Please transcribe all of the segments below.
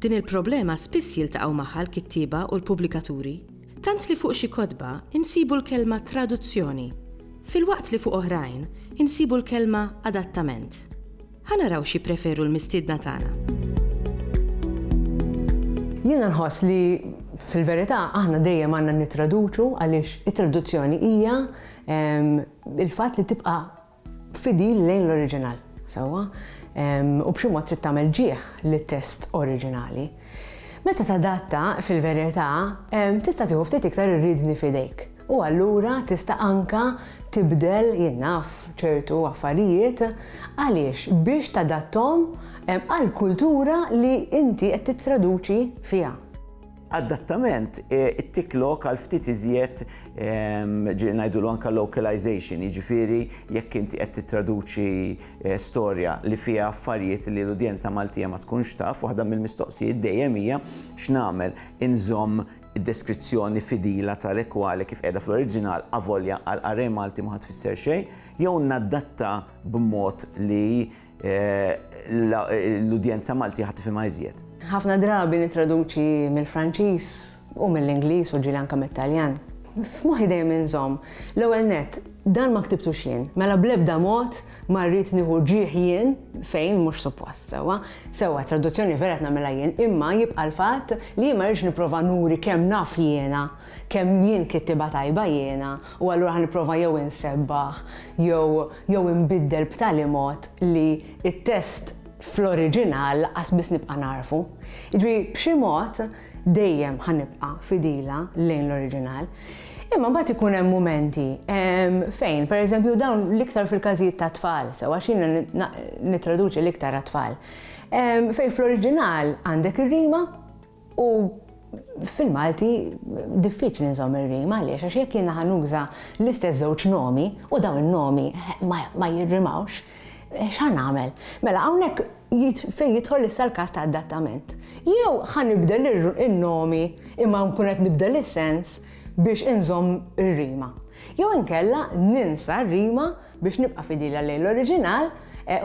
Din il-problema spiss jiltaqgħu magħha l-kittieba u l-pubblikaturi, tant li fuq xi kotba insibu l-kelma traduzzjoni, filwaqt li fuq oħrajn insibu l-kelma adattament. Ħa naraw x'jippreferu l-mistiedna tagħna. Jiena nħoss li fil-verità aħna dejjem għandna nittraduċu għaliex it-traduzzjoni hija il-fatt li tibqa' fidil lejn l-oriġinal, sewwa, u b'xi mod trid tagħmel ġieħ lit-test oriġinali. Meta tadatta, fil-verità, tista' tieħu ftit iktar ir-riedni f'idejk u allura tista' anke tibdel jien naf ċertu affarijiet għaliex biex tadatthom għall-kultura li inti qed tittraduċi fiha. Adattament, it-tick lock għal ftit iżjed ġieli ngħidulu anke localization, jiġifieri jekk inti qed tittraduċi eh, storja li fiha affarijiet li l-udjenza Maltija ma tkunx taf, waħda mill-mistoqsijiet dejjem hija x'nagħmel inżomm id-deskrizzjoni fidila tal-ekwali kif qiegħda fl-oriġinal avolja għal array Malti ma tfisser xejn, jew nadatta b'mod li l-udjenza Malti ħa tifhimha iżjed. Ħafna drabi nittraduċi mill-Franċiż u mill-Ingliż u ġieli anke mit-Taljan. F'moħħi dejjem inżomm, l-ewwel nett, dan ma ktibtux jien, mela bl-ebda mod ma rrid nieħu ġieħ jien fejn mhux suppost, sewwa. Sewwa, traduzzjoni vera qed nagħmilha jien, imma jibqa' l-fatt li jien ma rridx nipprova nuri kemm naf jiena, kemm jien kittieba tajba jiena u allura ħa nipprova jew insebbaħ jew jew inbiddel b'tali mod li t-test fl-oriġinal lanqas biss nibqa' nagħrfu. Jiġri b'xi mod dejjem ħa nibqa' fidila lejn l-oriġinal. Imma mbagħad ikun hemm mumenti ehm, fejn, pereżempju dawn l-iktar fil-każijiet ta' tfal, sewa xina nittraduċi l-iktar għat-tfal. Ehm, fejn fl-oriġinal għandek ir-rima, U fil-Malti diffiċli nżomm ir-rima għaliex għax jekk jiena ħanuża l-istess żewġ nomi u dawn in-nomi ma jirrimawx, x'ħa nagħmel? Mela hawnhekk fejn jidħol issa l-każ ta' adattament. Jew ħa nibdel in-nomi imma nkun qed nibdel is-sens biex inżomm ir-rima. Jew inkella ninsa r-rima biex nibqa' fidila lejn l-oriġinal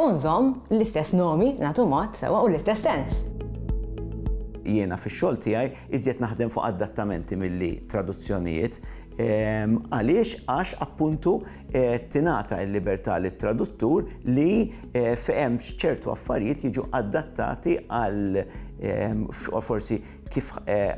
u nżomm l-istess nomi, nagħtu mod, sewwa u l-istess sens. Jiena fix-xogħol tiegħi iżjed naħdem fuq adattamenti milli traduzzjonijiet. Għaliex? Għax appuntu tingħata l-libertà lit-traduttur li fehem ċertu affarijiet jiġu adattati għal forsi kif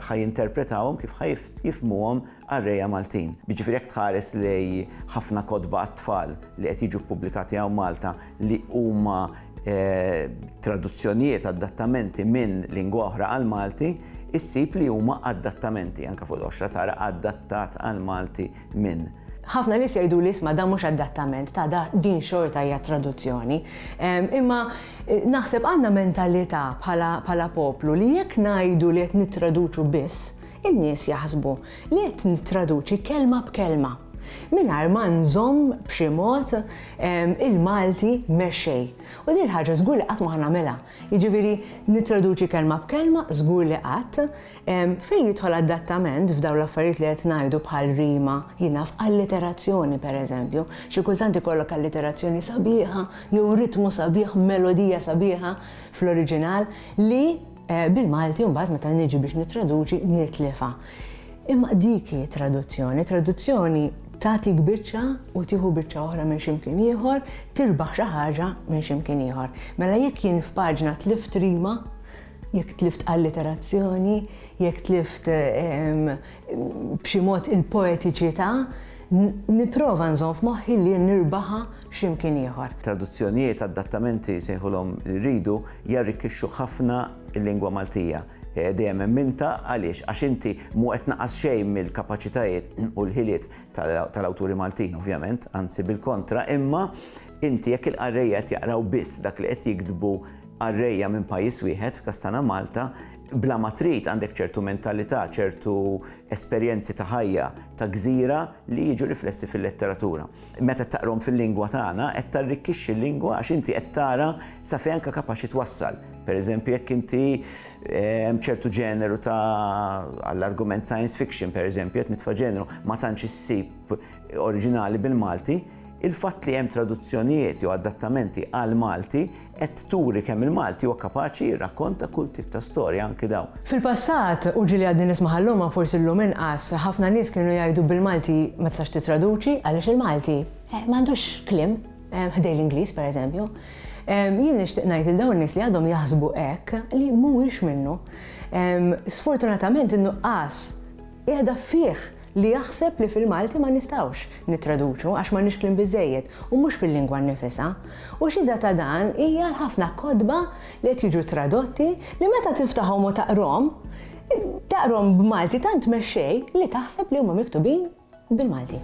ħajinterpretawhom, kif ħajifmuhom qarrejja Maltin. Jiġifieri jekk tħares lejn ħafna kotba għat-tfal li qed jiġu ppubblikati hawn Malta li huma traduzzjonijiet, adattamenti minn lingwa oħra għall-Malti, issib li huma adattamenti. Anke fuq il-qoxra tara adattat għall-Malti minn. Ħafna nies jgħiduli isma' dan mhux adattament, ta' da din xorta hija traduzzjoni. Imma naħseb għandna mentalità bħala poplu li jekk ngħidu li qed nittraduċu biss, In-nies jaħsbu li qed nittraduċi kelma b'kelma, mingħajr ma nżomm b'xi mod il-Malti mexxej. U din il-ħaġa żgur li qatt ma ħa nagħmilha. Jiġifieri nittraduċi kelma b'kelma żgur li qatt. Fejn jidħol adattament f'dawn l-affarijiet li qed ngħidu bħal rima, jien naf, alliterazzjoni pereżempju, xi kultant ikollok alliterazzjoni sabiħa jew ritmu sabiħ, melodija sabiħa fl-oriġinal li, Bil-Malti mbagħad meta niġi biex nittraduċi nitlifha. Imma dik hi traduzzjoni, traduzzjoni tagħtik biċċa u tieħu biċċa oħra minn x'imkien ieħor, tirbaħ xi ħaġa minn x'imkien ieħor. Mela jekk jien f'paġna tlift rima, jekk tlift alliterazzjoni, jekk tlift ehm, b'xi mod il-poetiċità, nipprova nżomm f'moħħi li nirbaħa xi mkien ieħor. Traduzzjonijiet, adattamenti jsejħulhom li rridu, jarrikkixxu ħafna l-lingwa Maltija. Dejjem emminta għaliex għax inti mhu qed tnaqqas xejn mill-kapaċitajiet u l-ħiliet tal-awturi Maltin ovvjament, anzi bil-kontra, imma inti jekk il-qarrejja qed jaqraw biss dak li qed jiktbu qarrejja minn pajjiż wieħed, f'każ tagħna Malta, bla ma trid għandek ċertu mentalità, ċertu esperjenzi ta' ħajja ta' gżira li jiġu riflessi fil-letteratura. Meta qed taqrahom fil-lingwa tagħna, qed tarrikkixxi l-lingwa għax inti qed tara sa fejn anke kapaċi twassal. Pereżempju, jekk inti eh, hemm ċertu ġeneru ta' għall-argument science fiction, pereżempju, qed nitfa' ġeneru ma tantx issib oriġinali bil-Malti, il-fatt li hemm traduzzjonijiet jew adattamenti għal Malti qed turi kemm il-Malti huwa kapaċi jirrakkonta kull tip ta' storja, anki dawn. Fil-passat, u ġieli għadni nismaha llum ma forsi llum inqas, ħafna nies kienu jgħidu bil-Malti ma tistax tittraduċi għaliex il-Malti m'għandux kliem ħdej l-Ingliż pereżempju. Jien nixtieq ngħid lil dawn in-nies li għadhom jaħsbu hekk li mhuwiex minnu. Sfortunatament in-nuqqas Qiegħda fih li jaħseb li fil-Malti ma nistgħux nittraduċu għax m'għandniex kliem biżżejjed u mhux fil-lingwa nnifisha. U xhieda ta' dan hija l-ħafna kotba li qed jiġu tradotti li meta tiftahom u taqrhom, taqrhom b'Malti tant mexxej li taħseb li huma miktubin bil-Malti.